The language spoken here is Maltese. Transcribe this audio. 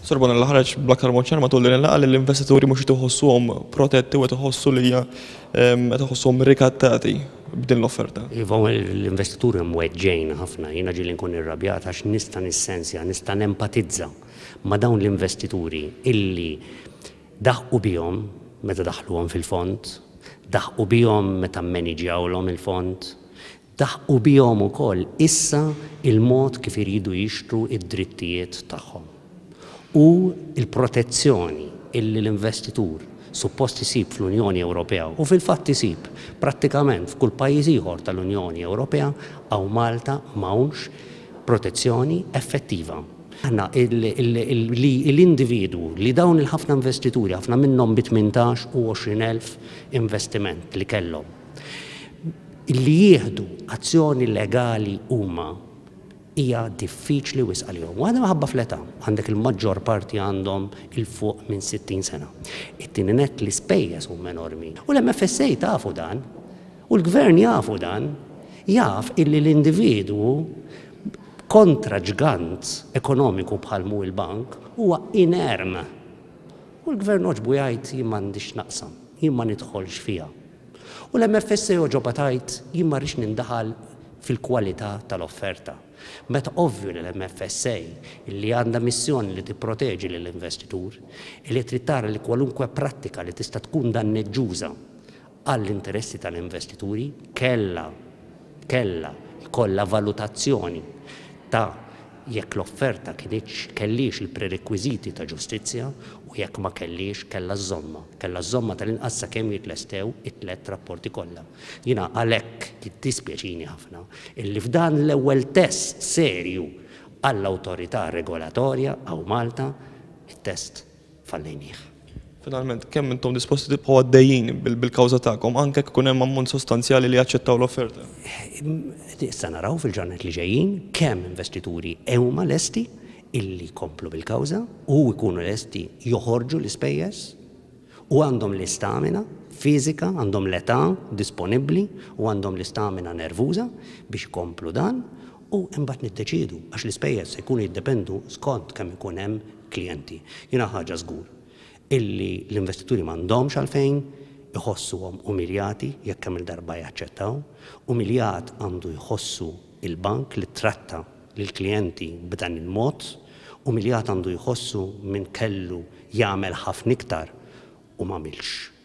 Sur Bonella ħareġ bl-aktar mod ċar matul din il-laqgħa li l-investituri mhux qed iħossuhom protetti u qed iħossu li hija ehm, qed iħossuhom rikattati b'din l-offerta. Iva l-investituri hemm weġġejn ħafna, jiena ġieli nkun irrabjat għax nista' nissenzja, nista' nempatizza ma' dawn l-investituri illi daħqu bihom meta daħluhom fil-fond, daħqu bihom meta mmeniġjawlhom il-fond, Daħqu bihom ukoll issa l-mod kif iridu jixtru d-drittijiet tagħhom u l-protezzjoni li l-investitur suppost isib fl-Unjoni Ewropea u fil-fatt isib prattikament f'kull pajjiż ieħor tal-Unjoni Ewropea hawn Malta m'hawnx protezzjoni effettiva. Aħna li l-individwu li dawn il-ħafna investituri, ħafna minnhom bi tmintax u għoxrin elf investiment li kellhom, li jieħdu azzjoni legali huma hija diffiċli wisq għalihom. Waħda minħabba fl-età, għandek il-maġġor parti għandhom 'il fuq minn 60 sena. It-tieni nett l-ispejjeż huma enormi. U l-MFSA tafu dan. U l-Gvern jafu dan. Jaf illi l-individwu kontra ġgant ekonomiku bħal mhu il-bank huwa inerm. U l-Gvern għoġbu jgħid jien m'għandix x'naqsam, jien ma nidħolx fiha. U l-MFSA jogħġobha tgħid, Jien ma rridx nindaħal fil-kwalità tal-offerta. Meta ovvju li l-MFSA, li għandha missjoni li tipproteġi lill-investitur, li trid tara li kwalunkwe prattika li tista' tkun danneġġuża għall-interessi tal-investituri kellha kellha jkollha valutazzjoni ta' jekk l-offerta kinitx, kellhiex il-prerekwiżiti ta' ġustizzja u jekk ma kellhiex, kellha żżommha. Kellha żżommha tal-inqas sakemm jitlestew it-tliet rapporti kollha. Jiena għalhekk jiddispjaċini ħafna illi f'dan l-ewwel test serju għall-awtorità regolatorja hawn Malta, it-test, fallejnieh. Finalment, kemm intom disposti tibqgħu għaddejjin bil-kawża tagħkom anke jekk ikun hemm ammont sostanzjali li jaċċettaw l-offerta? Issa naraw fil-ġranet li ġejjin kemm investituri huma lesti illi jkomplu bil-kawża u jkunu lesti joħorġu l-ispejjeż u għandhom l-istamina fiżika, għandhom l-età disponibbli u għandhom l-istamina nervuża biex ikomplu dan u imbagħad niddeċiedu għax l-ispejjeż se jkunu jiddependu skont kemm ikun hemm klijenti. Jiena ħaġa żgur illi l-investituri m'għandhomx għalfejn iħossuhom umiljati jekk kemm-il darba jaċċettaw. Umiljat għandu jħossu l-bank li ttratta lill-klijenti b'dan il-mod, umiljat għandu jħossu min kellu jagħmel ħafna iktar u m'għamilx.